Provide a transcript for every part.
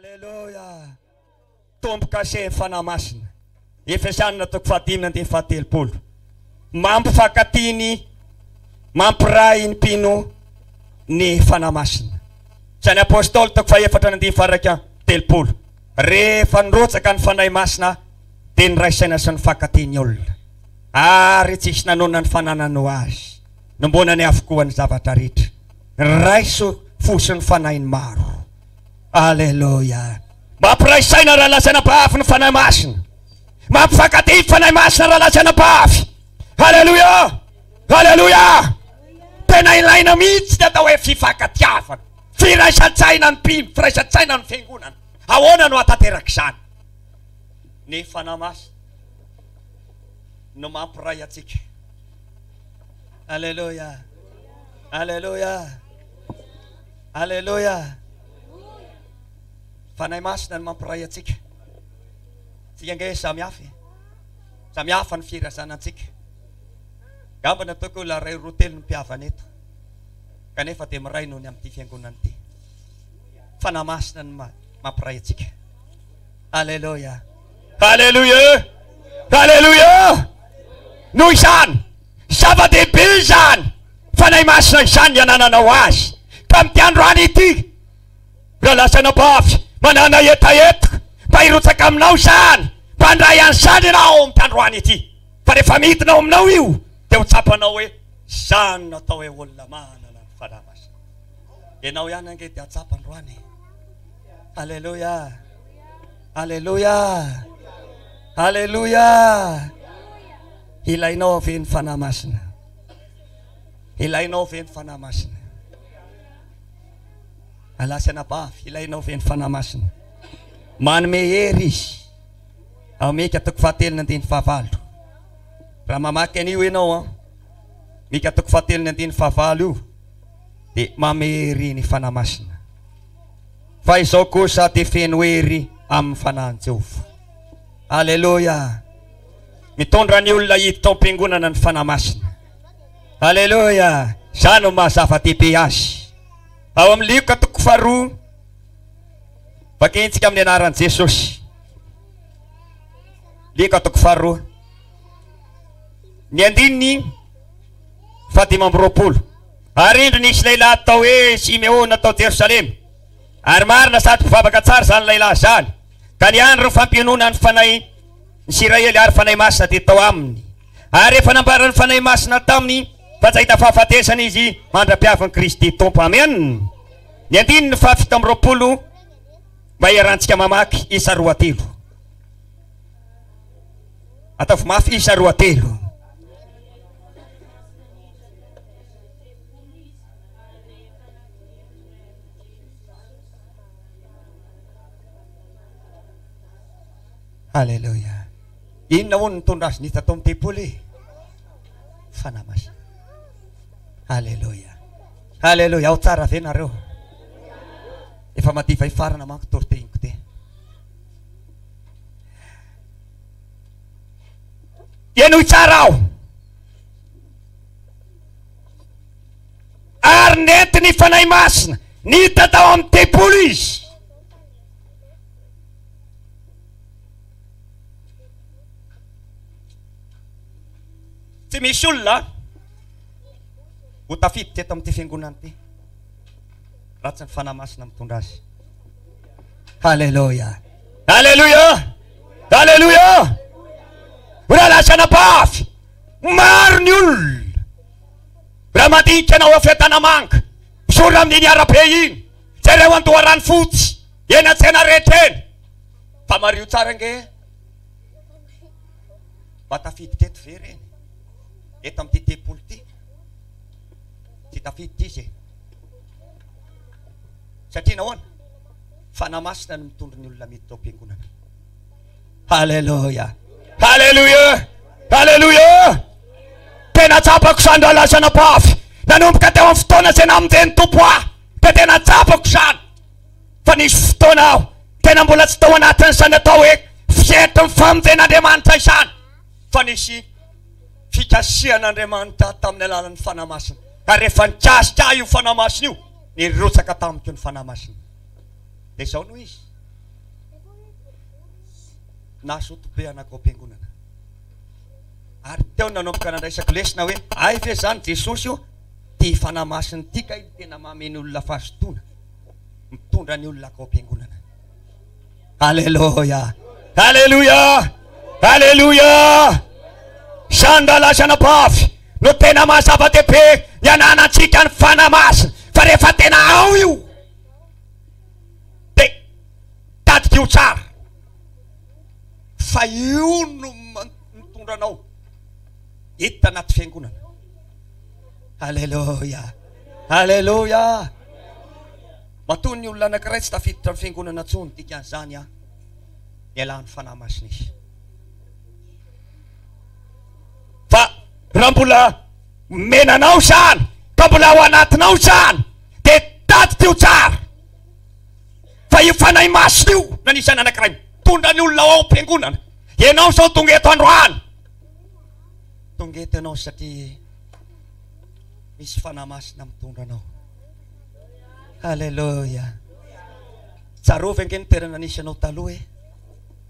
Aleloia! Tombo kase ny Fanahy Masina. Efesiana toko fahadimy andininy fahatelopolo. Mampifankatia ny, mampiray ny mpino ny Fanahy Masina. Tsy ny Apôstôly toko fahefatra ny andininy faharaika telopolo. Rehefa nirotsaka ny Fanahy Masina dia niraisaina sy nifankatia ny olona. Ary tsy hisy nanonona ny fananany ho azy. Nombonany avokoa ny zavatra rehetra. Niraiso fo sy ny Fanahy ny maro. Aleloia! Mampiray saina raha lazaina mpahafy ny Fanahy Masina. Mampifankatia ny Fanahy Masina raha lazaina mpahafy. Aleloia! Aleloia! Tena ilaina mihitsy ny atao hoe fifankatiavana. Firaisan-tsaina ny mpino, firaisan-tsaina ny fiangonana. Ahoana no hahatanteraka izany? Ny Fanahy Masina no mampiray antsika. Aleloia! Aleloia! Aleloia! Fanahy Masina no mampiray antsika. Tsika ange samy hafa e. Samy hafa ny firazana antsika. Gamba ny ataoko olona ray roa telo ny mpihavana eto. Kanefa dia miray noho ny amin'ity fiangonana ity. Fanahy Masina no mampiray antsika. Aleloia. Aleloia. Aleloia. Noho izany, zava-dehibe izany Fanahy Masina izany ny anananao Azy. Tamin'ity androany ity, raha lasa anabavy manana hetaheta, mba hirotsaka aminao izany, mba handray an'izany ianao amin'ity androany ity. Fa rehefa midina ao aminao io, dia ho tsapanao hoe, Izany no atao hoe olona manana ny Fanahy Masina. Ianao ihany ange dia hatsapa androany e. Alléluia. Alléluia. Alléluia. Ilainao ave ny fanahy masina. Ilainao ave ny fanahy masina. Alasy anabavy, ilainao ave ny fanahy masina. Manome hery izy. Ameka toko fahatelo ny andininy fahavalo. Raha mamaky an'io ianao an. Mika toko fahatelo ny andininy fahavalo io. dia mame ery ny Fanahy Masina. Fa izao kosa dia feno ery amin'ny Fanahin'i Jehovah. Aleloia! Mitondra ny olona hiditra ao am-piangonana ny Fanahy Masina. Aleloia! Izany no maha-zava-dehibe azy. Ao amin'ny Lioka toko faharoa, vakiantsika amin'ny anaran'i Jesosy. Lioka toko faharoa. Ny andininy fahadimy amby roapolo. Ary indro nisy lehilahy atao hoe Simeona tao Jerosalema, ary marina sady mpivavaka tsara izany lehilahy izany, ka ny andron'ny fampionona ny fanahy ny Isiraely ary fanahy masina dia tao aminy, ary efa nambaran'ny fanahy masina taminy fa tsy hahita fahafatesana izy mandra-piavin'i Kristy Tompo. Amen. Ny andininy fahafito amby roapolo, mba hiarahantsika mamaky isa roa telo. Ataovy mafy isa roa telo. Alléluia. Inona hono nitondra azy nita tao amin'ny tempoly? Fanahy Masina. Alléluia. Alléluia. Ao tsara ve nareo? Efa madiva hifarana manko tortehinko te. Henoy tsara aho. Ary nentin'ny Fanahy Masina niditra tao amin'ny tempoly izy. Tsy misy olona ho tafiditra eto amin'ity fiangonana ity raha tsy ny Fanahy Masina mitondra azy. Haleloia. Haleloia. Haleloia. Raha lasa anabavy, maro ny olona. Raha mandinika anao ao Fiadanamanga, misorona amin'iny arabe iny, jereo an-doharano fotsy, eny an-tsena rehetra eny. Fa mario tsara ange. Mba tafidy teto ve reny? Eto amin'ity tempoly ity? Tsy tafidy ity izay. Satria nahoana? Fanahy Masina no mitondro ny olona mety tao am-piangonana. Haleloia! Haleloia! Haleloia! Tena tsapako izany raha lasa nampahafy. Nanomboka teo amin'ny fotoana izay namonjen'ny Tompo ahy dia tena tsapako izany. Fa nisy fotoana aho tena mbola tsy tao anatin'izany atao hoe fietry ny famonjen'Andriamanitra izany. Fa nisy fikasihan'Andriamanitra ahy tamin'ny alalan'ny Fanahy Masina. Ary rehefa nikasika ahy io Fanahy Masina io, Nirotsaka tamiko ny Fanahy Masina. Dia izao no izy, nazoto be anako ao am-piangonana. Ary teo no nanomboka nandraisako lesona hoe, hay ve izany Jesosy ô, ity Fanahy Masina ity kay no tena mamehy ny olona fazotoana, mitondra ny olona akao am-piangonana. Aleloia. Aleloia. Aleloia. Izany rahalazana pavy no tena mahazava-dehibe ny ananantsika ny fanahy masina fa rehefa tena ao io dia tadikio tsara fa io no mitondra anao hiditra anaty fiangonana. Aleloia. Aleloia. Matoa ny olona anankiray tsy tafiditra amin'ny Fiangonana intsony dikan'izany aho niala ny Fanahy Masina izy. Fa raha mbola omena anao izany ka mbola ao anatinao izany dia tadidy io tsara fa io Fanahy Masina io na ny izany anankiray mitondra ny olona ao am-piangonana. Ianao izao tonga eto androany, tonga eto ianao satria misy Fanahy Masina mitondra anao. Aleloia. Tsarovy ange ny toerana nisy anao taloha e.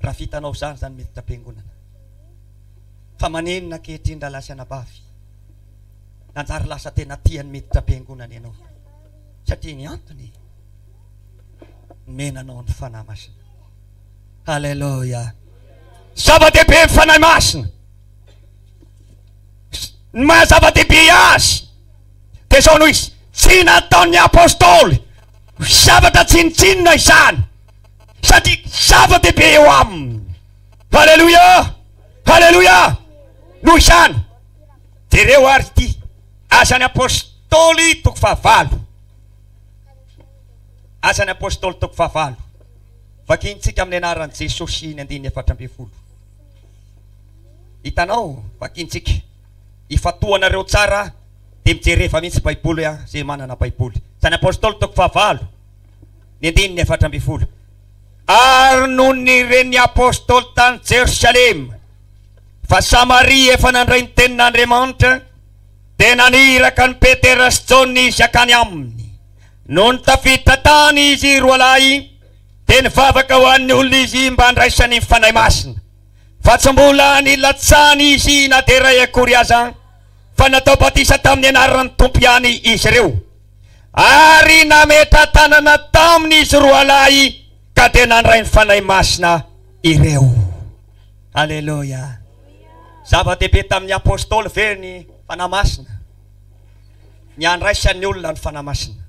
Raha vitanao izany, izany miditra am-piangonana. Fa maninona ankehitriny raha lasa anabavy? Nanjary lasa tena tia ny miditra am-piangonana ianao. Satria ny antony, nomena anao ny Fanahy Masina. Aleloia. Zava-dehibe ny Fanahy Masina. Ny maha zava-dehibe azy dia izao no izy, Tsy nataon'ny apostoly ho zavatra tsinontsinona izany, satria zava-dehibe eo aminy. Haleloia! Haleloia! Noho izany, jereo àry ity, Asan'ny Apostoly, toko fahavalo. Asan'ny Apostoly, toko fahavalo. Vakintsika amin'ny anaran'i Jesosy ny andininy efatra ambin'ny folo. Hitanao, vakintsika. Ifantohanareo tsara dia mijereva mihitsy Baiboly an, izay manana Baiboly. Tsy any Apôstôly toko fahavalo, ny andininy efatra ambin'ny folo. Ary nony nire ny Apôstôly tany Jerosalema fa Samaria efa nandray ny tenin'Andriamanitra, dia naniraka an'i Petera sy Jaona izy hakany aminy. Nony tafiditra tany izy roalahy, Dia nivavaka ho an'ny olona izy mba handraisany ny Fanahy Masina. Fa tsy mbola nilatsahany izy na dia iray akory aza, fa natao batisa tamin'ny anaran'ny Tompo ihany izy ireo. Ary nametra-tanana taminy izy roalahy ka dia nandray ny Fanahy Masina ireo. Aleloia. Zava-dehibe tamin'ny Apostoly ve ny Fanahy Masina? Ny handraisan'ny olona ny Fanahy Masina.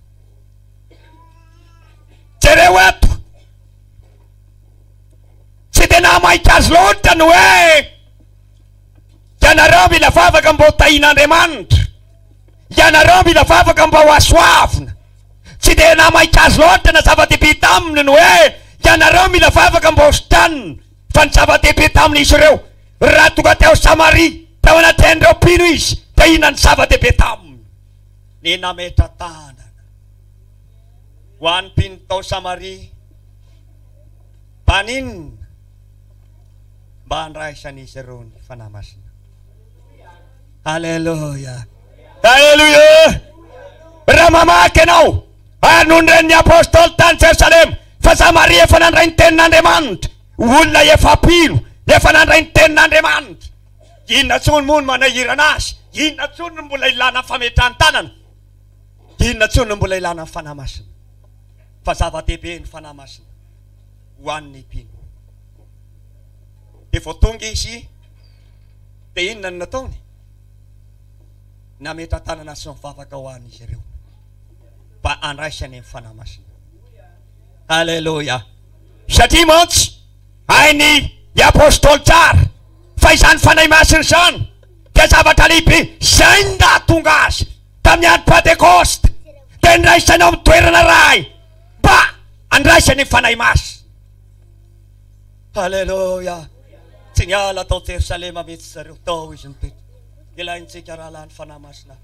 Jereo eto. Tsy dia nahamaika azy loatra ny hoe ianareo mila vavaka mba ho tahin'Andriamanitra, ianareo mila vavaka mba ho asoavina. Tsy dia nahamaika azy loatra na zava-dehibe taminy ny hoe ianareo mila vavaka mba ho sitranina. Fa ny zava-dehibe tamin'izy ireo, raha tonga teo Samaria, tao anatrehan'ireo mpino izy, dia inona no zava-dehibe taminy? Ny nametra-tanana ho an'ny mpino tao Samaria tany inona mba handraisan'izy ireo ny Fanahy Masina? Aleloia! Aleloia! Raha mamaky ianao ary no niren'ny Apostoly tany Jerosalema fa Samaria efa nandray ny tenin'Andriamanitra, olona efa mpino efa nandray ny tenin'Andriamanitra, Inona intsony moa no manahirana azy? Inona intsony no mbola ilana fametran-tanana? Inona intsony no mbola ilana ny Fanahy Masina? Fa zava-dehibe ny Fanahy Masina ho an'ny mpino. Dia vao tonga izy, dia inona no nataony? Nametran-tanana sy nivavaka ho an'izy ireo mba handraisany ny Fanahy Masina. Haleloia! Satria mantsy, Hain'ny Apostoly tsara fa izany Fanahy Masina izany dia zavatra lehibe izay ny nahatonga Azy tamin'ny andro Pantekosta dia niraisany ao amin'ny toerana iray mba handraisany ny Fanahy Masina. Aleloia! Tsy niala tao Jerosalema mihitsy zareo, tao Izy nipetraka. Ilaintsika rahalahy ny Fanahy Masina.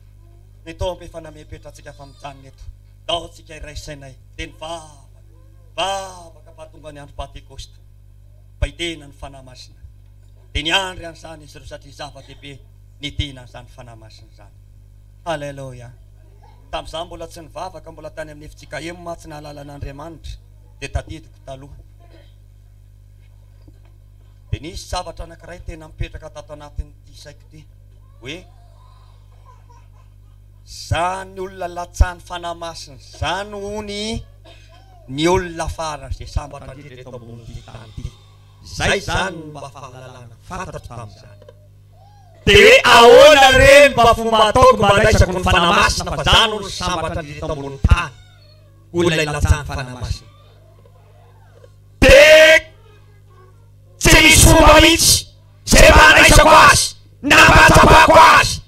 Mitombo efa namepetra antsika fa mijanona eto. Tao tsika iraisanay dia ny vavaka. Vavaka fahatongan'ny andro Pantekosta, Baitena ny Fanahy Masina, dia niandry an'izany izy ireo satria zava-dehibe ny dina an'izany Fanahy Masina izany. Haleloia! Tamin'izaho mbola tsy nivavaka, mbola tany amin'ny efintsika Emma, tsy nahalala an'Andriamanitra, dia tadidiko taloha. Dia nisy zavatra anankiray tena mipetraka tato anatin'ity saiko ity, hoe, Zany olona latsahan'ny Fanahy Masina zany hono ny olona farany ze sambatra ndridra eto ambonin'ity tany ity. Zay zany no mba fahalalana fantatro tamin'izany. De hoe ahoana re ny mba fomba ataoko mba andraisako ny Fanahy Masina fa zany hono sambatra ndridra eto ambonin'ny tany hono ilay latsahan'ny Fanahy Masina. De tsy misy fomba mitsy ze mba andraisako azy na mba atsapako azy.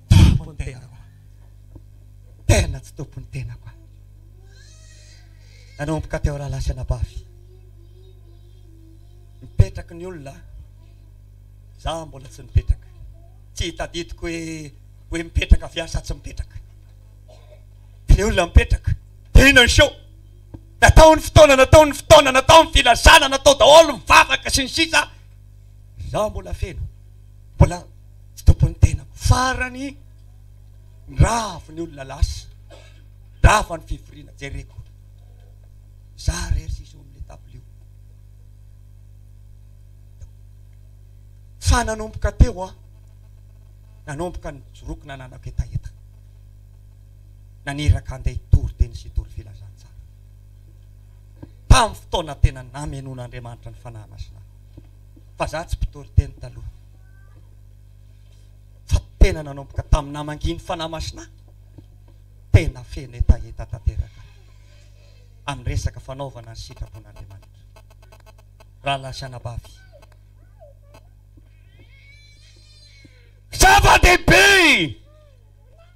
Tompony tenako a! Tena tsy tompony tenako a! Nanomboka teo rahalahy sy anabavy, mipetraky ny olona a! Za mbola tsy nipetraka, tsy hitadidiko hoe hoe mipetraka avy aho sa tsy mipetraka. Dia ny olona mipetraka, dia inona ny show? Natao ny fotoana, natao ny fotoana, natao ny filazana, natao daholo ny vavaka sy ny sisa, za mbola feno. Mbola tsy tompon'ny tenako. Farany, nirava ny olona lasa, nirava ny fivoriana, jereko za rery sisa eo amin'ilay table io. Fa nanomboka teo aho, nanomboka nijoroako nananako hetaheta, naniraka handeha hitory teny sy hitory filazantsara, tamin'ny fotoana tena namenoan'Andriamanitra ny Fanahy Masina ahy. fa za tsy mpitory teny taloha fa tena nanomboka tamin'ny namangian'ny Fanahy Masina aho, tena feno hetaheta tanteraka amin'ny resaka fanaovana ny sitrapon'Andriamanitra. Rahalahy sy anabavy, zava-dehibe!